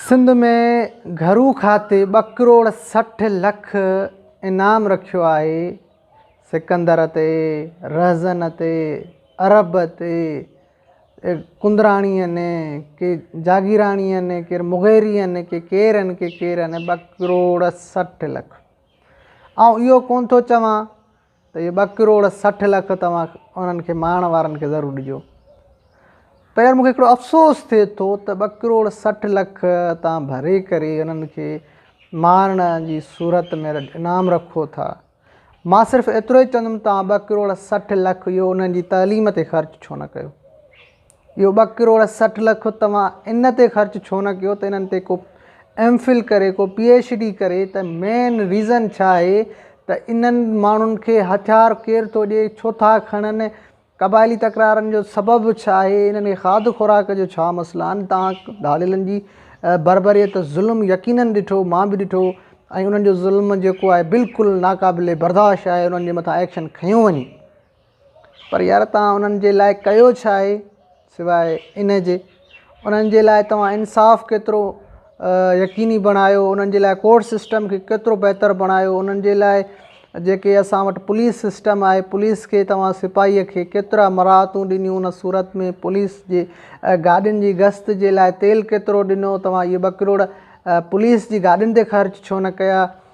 سنڌ ۾ گهرو کاتي ٻه ڪروڙ سٺ لک انعام رکيو آهي سڪندر تي رهزن تي عرب تي ڪندراڻي آهن ڪي جاگيراڻي آهن ڪي مغيري آهن ڪي ڪير آهن ڪي ڪير آهن ٻه ڪروڙ سٺ لک آئون اهو ڪونه ٿو چوان ته اهي ٻه ڪروڙ سٺ لک توهان انهن کي ماڻ وارن کي ضرور ڏجو پر يار مون کي هڪڙو افسوس ٿئي ٿو ته ٻه ڪروڙ سٺ لک تان ڀري ڪري انهن کي ماڻ جي صورت ۾ انعام رکو ٿا مان صرف ايترو ئي چوندم توهان ٻه ڪروڙ سٺ لک اهو انهن جي تعليم تي خرچ ڇو نه ڪيو اهو ٻه ڪروڙ سٺ لک توهان ان تي خرچ ڇو نه ڪيو ته انهن تي ڪو ايم فل ڪري ڪو پي ايڇ ڊي ڪري ته مين ريزن ڇا آهي ته انهن ماڻهن کي هٿيار ڪير ٿو ڏي ڇو ٿا کڻن قبائلي تڪرارن جو سبب ڇا آهي انهن کي کاڌ خوراڪ جو ڇا مسئلا آهن توهان ڌاڙيلن جي بربريت ظلم يقينن ڏٺو مان به ڏٺو ۽ انهن جو ظلم جيڪو آهي بلڪل ناقابل برداشت آهي انهن جي مٿان ايڪشن کنيو وڃي. پر يار توهان انهن جي لاء ڪيو ڇا آهي سواء ان جي انهن جي لاء توهان انصاف ڪيترو يقيني بڻايو انهن جي لاء ڪورٽ سسٽم کي ڪيترو بهتر بڻايو انهن جي لاء جيڪي اسان وٽ پوليس سسٽم آهي پوليس کي توهان سپاهيء کي ڪيترا مراعتون ڏنيون ان صورت ۾ پوليس جي گاڏين جي گشت جي لاء تيل ڪيترو ڏنو توهان اهي ٻه ڪروڙ پوليس جي گاڏين تي خرچ ڇو نه ڪيا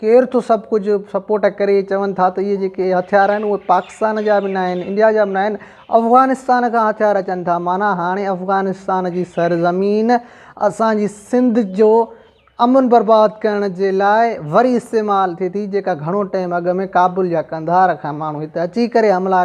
ڪير ٿو سڀ ڪجهه سپورٽ ڪري چون ٿا ته اهي جيڪي هٿيار آهن اهي پاڪستان جا به ناهن انڊيا جا به ناهن افغانستان کان هٿيار اچن ٿا معنيٰ هاڻي افغانستان جي سر زمين اسانجي سنڌ جو امن برباد ڪرڻ جي لاء وري استعمال ٿئي ٿي جيڪا گهڻو ٽيم اڳ ۾ ڪابل يا قنڌار کان ماڻهو هتي اچي ڪري حملا